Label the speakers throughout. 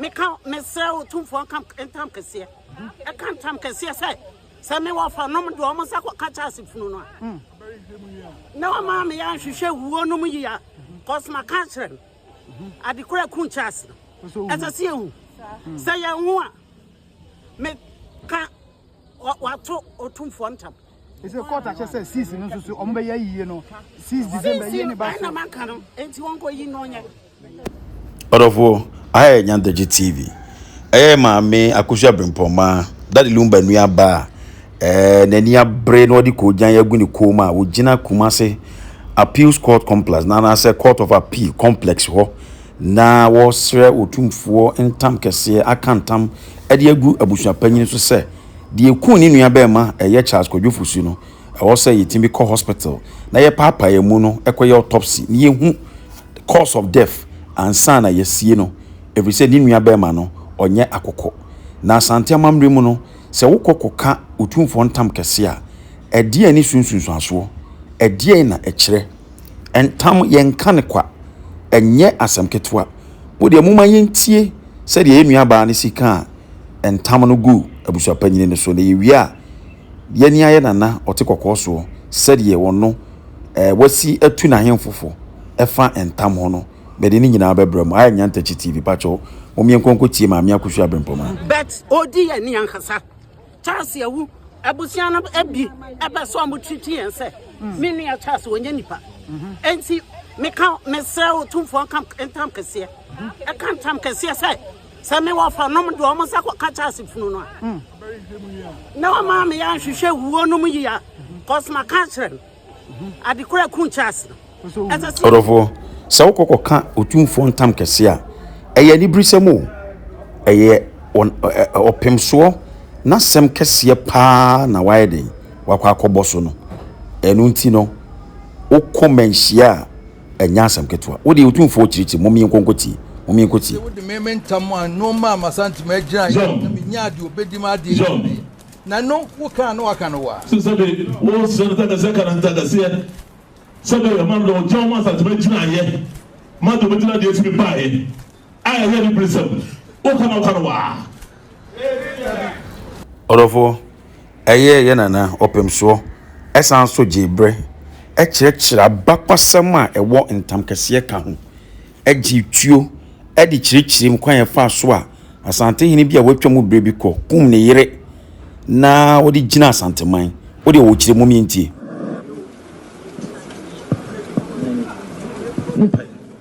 Speaker 1: Meka, mesrɛ wo Tumfoɔ nka ntam kɛseɛ, ɛka ntam kɛseɛ sɛ, sɛ me wɔfa nom de wɔn nsa kɔka Charles funu no a, na wɔma me yɛ nhwehwɛ wuo nom yi a, kɔs maka akyerɛ no, adekora ku Charles no, ɛsɛ sɛ yɛhu, sɛ yɛn ho a, meka wato Otumfoɔ ntam. ɛsɛ court akyɛ
Speaker 2: sɛ sis no nso so ɔmo bɛyɛ yie no sis december yie ne ba so ɛna maka no
Speaker 1: enti wɔnkɔ yi no ɔnyɛ Ɔdɔfoɔ,
Speaker 3: aha yɛ Nyantagye TV, ɛyɛ maame Akosua Abrempɔnma, Daddy Lumba nua ba a ɛɛ n'ani abere na ɔde koogyan agu ne kɔn mu a ɔgyina Kumasi Appeals Court Complex na anaasɛ Court of Appeal Complex hɔ na wɔresrɛ Otumfoɔ ntam kɛseɛ aka ntam de agu abusua panyin so sɛ deɛ ɛkuu ne nua bɛɛma ɛyɛ Charles Kwadwo Fosu no ɛwɔ sɛ yɛtumi kɔ hospital na yɛpaapae mu no kɔyɛ autopsy na yɛhu cause of death ansa na yɛasie no ɛfiri sɛ ne nua barima no ɔnyɛ akokɔ. Na Asante amammerɛ mu no, sɛ wokɔ kɔka Otumfoɔ ntam kɛse a, ɛdeɛn ne so nsunsuansoɔ? Ɛdeɛn na ɛkyerɛ? Ntam, yɛnka no kwa, ɛnyɛ asɛm ketewa. Mo deɛ momma yɛntie sɛdeɛ yɛn nuabaa no si kaa ntam no guu abusuapanin no so, na yɛwie a, Yɛn ara yɛ nana ɔte kɔkɔɔ soɔ, sɛdeɛ ɔno eh, wasi atu n'ahemfo fo ɛfa ntam ho no, mede ne nyinaa bɛbrɛ mo. Ayɛ Nyantakyi TV, pakyɛ wo, mom yɛnkɔ nkɔtie Maame Akusu Abrempong a. But odi yɛn
Speaker 1: ni ankasa. Charles awu, abusua no bi ɛpɛ sɛ ɔmo treat yɛn sɛ me nua Charles ɔnyɛ nipa. Enti meka mesrɛ wo tumfoɔ nka ntam kɛseɛ. Ɛka ntam kɛseɛ sɛ Sɛ me wɔfa nom de wɔn nsa kɔka Charles funu no a, na wɔn maa me yɛ anhwehwɛ wuo nom yia kɔs ma ka kyerɛ no adekora kun Charles no. Ɔdɔfoɔ,
Speaker 3: sɛ wokɔ kɔka otumfoɔ ntam kɛse a, ɛyɛ aniberesɛm o, ɛyɛ ɔpemsoɔ n'asɛm kɛseɛ paa na wayɛ den wakɔ akɔbɔ so no, ɛno nti no wokɔ manhyia a. ɛnyɛ asɛm ketewa. Wo deɛ Otumfoɔ kyirikyiri, mom yɛnkɔ nkɔ tie, mom yɛnkɔ Wo deɛ tie. wode me
Speaker 4: me ntam a no maa m'Asante m'agyina yɛ na menyaa deɛ ɔbɛdi m'adeɛ ne me deɛ na no wo kaa no waka no wa. Sɛ sɛbe wo
Speaker 5: srɛ no takaseɛ ka no ntakaseɛ sɛbe ɔma no dɔ wo gya wo ma Asante m'agyina yɛ ma deɛ ɔbɛdi n'adeɛ firi baeɛ. A ɛyɛ aniberesɛm, woka
Speaker 3: nɔkwa no waa. Ɔdɔfoɔ, ɛyɛɛ yɛn nana ɔpem soɔ, ɛsan so gyee berɛ, ɛkyerɛkyerɛ abakwasɛm a ɛwɔ ntam kɛseɛ ka ho, ɛgye tuo de kyerɛkyerɛm kwan a ɛfaa so a Asantehene bi a watwa mu berɛ bi kɔ kum ne yere na ɔde gyina Asanteman. Wo deɛ wɔkyerɛ mom yɛntie.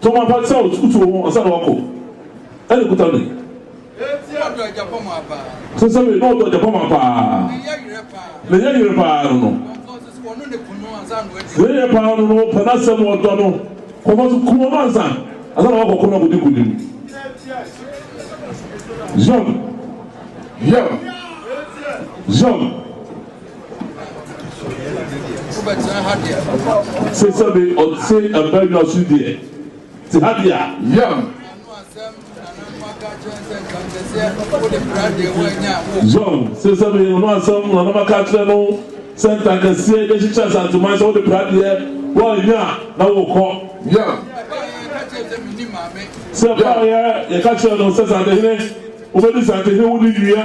Speaker 5: Tom apa sɛ ɔretutu wo ho ansa na woakɔ. Ɛnne kuta me. Sɛ ɔdɔ agyapɔmma paa. Sɛ sɛ me na ɔdɔ agyapɔmma paa. Ne yɛ yerɛ paa. Ne yɛ yerɛ paa no no. Ɔmfa nso sɛ ɔno ne kunu ansa na wadi. Ne yɛ yerɛ paa no no pɛ n'asɛm ɔdɔ no. Kɔmfa nso ku ɔno ansa. Ansa na woakɔ ko no akɔdi nkonim. Zion, Zion, Zion. Se sɛde ɔte abannwa so deɛ, te ha deɛ a. Yam. Zɔn, se sɛde ɔno asɛm na nam aka akyerɛ no sɛ ntankaseɛ bɛhyehyɛ Asanteman sɛ wode pra deɛ woannya a na wokɔ. Yam. Se ɛbaeɛ yɛka kyerɛɛ no sɛ Santehene wobɛdi Santehene wo ne nnua.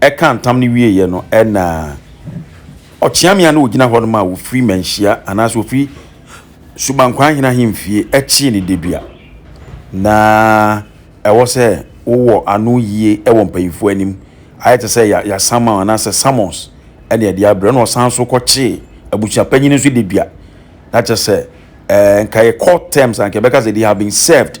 Speaker 3: Ɛkaa ntam no wieeɛ no, ɛnna ɔkyeame a na ɔgyina hɔ no maa wɔfiri mmanhyia anaasɛ wɔfiri subankwan hene ahemfie kyee no dedua. Ná ɛwɔ sɛ wowɔ ano yie wɔ mpanyimfoɔ anim. Ayɛ te sɛ yɛ yɛasama wo anaasɛ summons na yɛde abrɛ wo. Ɛnna ɔsan nso kɔkyee abusuapanyin nso dedua. Na kyerɛ sɛ, ɛɛ nka yɛ court terms a, nka yɛbɛka sɛ they have been served.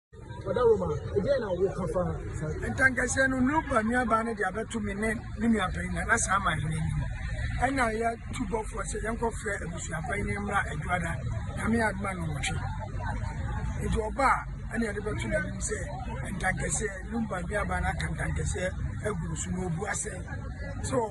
Speaker 3: Ɔda Roma a, ɛdeɛn na woka fa
Speaker 6: saa? Ntankɛseɛ no, Noba nuabaa no de abɛto me ne me nuapanyin a na saa man no anim. Ɛna yɛatu bɔfoɔ sɛ yɛnkɔfrɛ abusuafoɔ yi ne mmra Adwoada, Nyame adom a nnɔnwɔtwe. Nti ɔba a, ɛna yɛde bɛto n'anim sɛ ntankɛseɛ, Noba nuabaa no aka ntankɛseɛ agu no so na ɔbua sɛ, sɛ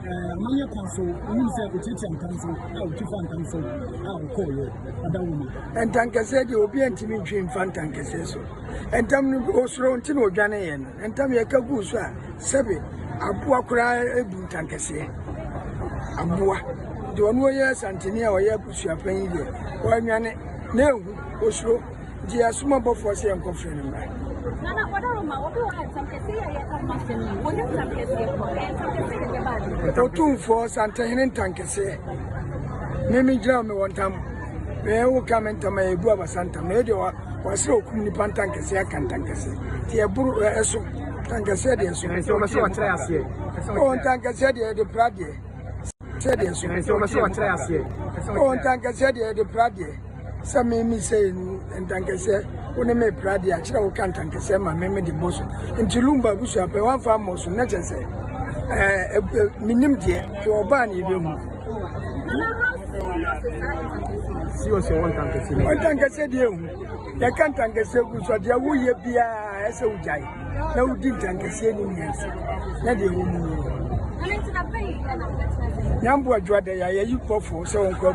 Speaker 6: Ɛɛ, manyɛ kwan so, wonim sɛ ɔkyiakyia ntam so a ɔtwi fa ntam so a ɔkɔɔyɛ ɔda wo mu. Ntankɛseɛ deɛ obi antumi ntwi mfa ntankɛseɛ so. Ntam no ɔsoro nti na ɔdwaneeɛ no. Ntam yɛka guu so a sɛbe aboa koraa ɛbu ntankɛseɛ. Aboa deɛ ɔno ɔyɛ santene a ɔyɛ abusuapanyin deɛ, wanwane na ɛhu ɔsoro. Gye asom ɔbɔfoɔ sɛ yɛnkɔfrɛ no mmra. Nana kɔda Roma, obi wɔ ha nsɛm kɛseɛ yɛ yɛka ho asɛm yi. Wɔnim nsɛm kɛseɛ kɔ, ɛyɛ nsɛm kɛseɛ na ɛbɛba ase. Otumfoɔ, Santehene ntankɛseɛ, me megyina wo mewɔ ntam. Meyɛ wo ka me ntam a ɛbu abasa ntam. Meyɛ deɛ wɔasrɛ okum nipa ntankɛseɛ aka ntankɛseɛ. Nti ɛboro ɛso, ntankɛseɛ deɛ ɛso. Nti wɔbɛsɛ wɔkyerɛ aseɛ. Ɔ ntankɛseɛ deɛ ɛde pra deɛ. Sɛ deɛ ɛso. Nti wɔbɛsɛ wɔkyerɛ aseɛ. Ɔ ntankɛseɛ deɛ ɛde pra deɛ. sɛ me me sɛ enu ntankɛsɛ wo ne me pra de akyerɛ wo ka ntankɛsɛ ma me me de bɔ so nti lumba abusua pɛ wɔn afa mmɔ so na kyɛ sɛ ɛɛ menim deɛ hwɛ ɔbaa ne ebe mu. si wɔ sɛ wɔn ntankɛsɛ bi. wɔn ntankɛsɛ deɛ ehu yɛka ntankɛsɛ gu so deɛ woyɛ biara ɛsɛ wogyae na wodi ntankɛsɛ ni nyɛ so na deɛ wɔn mu. nyambo adwa dɛ yɛ yɛ yi kɔfo sɛ wɔn kɔ.